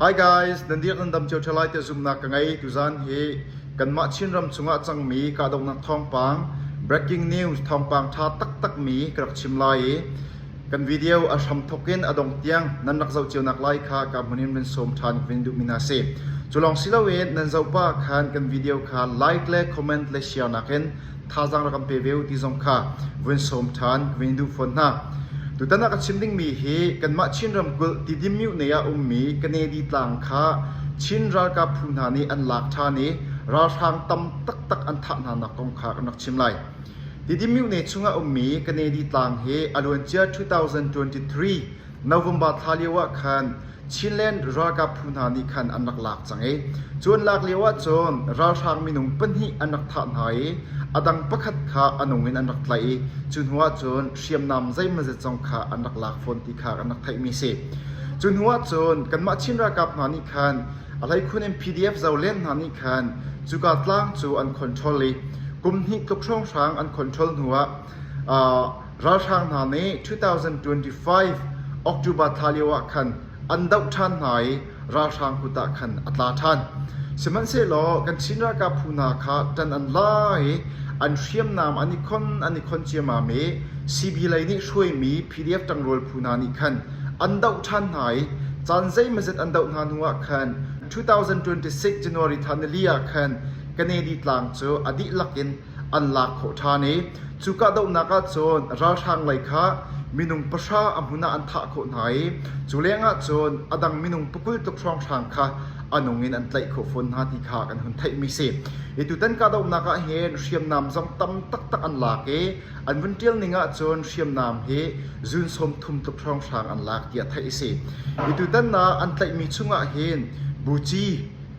Hi guys, nan dirh nan dam cio ṭha lai tiah zumhnak ka ngei. Tuzan hi kanmah Chinram chungah cangmi kahdohnak thawngpang, breaking news thawngpang ṭha taktakmi ka rak chim lai i kan video a hramthawk in a dong tiang nan rak zoh cionak lai kha ka hmun in vun sawm ṭhan vun duhmi hna si. Cu lawng si loin nan zoh pah khan kan video kha like le comment le share nakin thazaang rak kan pe ve uh ti zong kha vun sawm ṭhan vun duh fawn hna. Tutan ah ka chim dingmi hi kanmah Chin ramkulh Tidimyuh nei ah ummi Kanedi tlang kha Chin ralkap phu hna nih an lak ṭhan i ralhrang tam taktak an thah hna nak kong kha kan rak chim lai. Tidimyuh ne chung ah ummi Kanedi tlang hi a luancia 2023 November thla lioah khan Chinland ralkap phu hna nih khan an rak lak cang i cu an lak lioah cun ralhrang minung pahnih an rak thah hna i a dang pakhat kha a nung in an rak tlaih i cu hnuah cun hriamnam zeimazet zong kha an rak lak fawn ti kha kan rak theihmi a si. Cu hnuah cun kanmah Chin ralkap hna nih khan a hleikhun in PDF zolen hna nih khan cuka tlang cu an control i kum hnih tluk hrawnghrang an control hnuah Ralhrang hna nih 2025 October thla lioah khan an doh ṭhan hna i ralhrang kut ah khan a tla ṭhan. Sihmanhsehlaw kan Chin ralkap phu hna kha ṭan an la i an hriamnam an i khon an i khon ciammam i CB lei nih hruaimi PDF ṭangrual phu hna nih khan an doh ṭhan hna i caan zeimazet an doh hna hnuah khan 2026 January thla nili ah khan Kanedi tlang cu a dihlak in an lak khawh ṭhan i cu kahdohnak ahcun ralhrang lei kha minung pahra a hmun ah an thah khawh hna i cu lengah cun a dang minung pakul tluk hrawnghrang kha a nung in an tlaih khawh fawn hna ti kha kan hun theihmi si. Hi tutan kahdohnak ah hin hriamnam zong tam taktak an lak i an vun ṭialning ahcun hriamnam hi zun sawm thum tluk hrawnghrang an lak tiah theih a si. Hi tutan ah an tlaihmi chungah hin buci,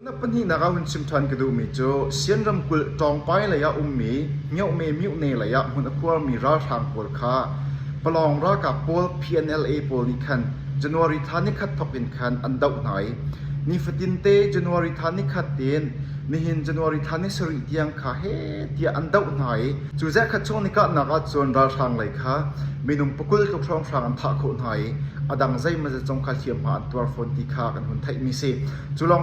Na pahnihnak ah hun chim ṭhan ka duhmi cu Sian ramkulh Ṭawngpai lei ah ummi Myohme Myuhne lei ah hmun a khuarmi ralhrang pawl kha Palawng ralkap pawl PNLA pawl nih khan January thla nikhat thawk in khan an doh hna i nifatin te January thla nikhat tin nihin January thla ni sarih tiang kha he tiah an doh hna i cu zehkhat chung ni kahnak ah cun ralhrang lei kha minung pakul tluk hrawnghrang an thah khawh hna i a dang zeimazat zong kha hliamhma an tuar fawn ti kha kan hun theihmi si. Cu lawng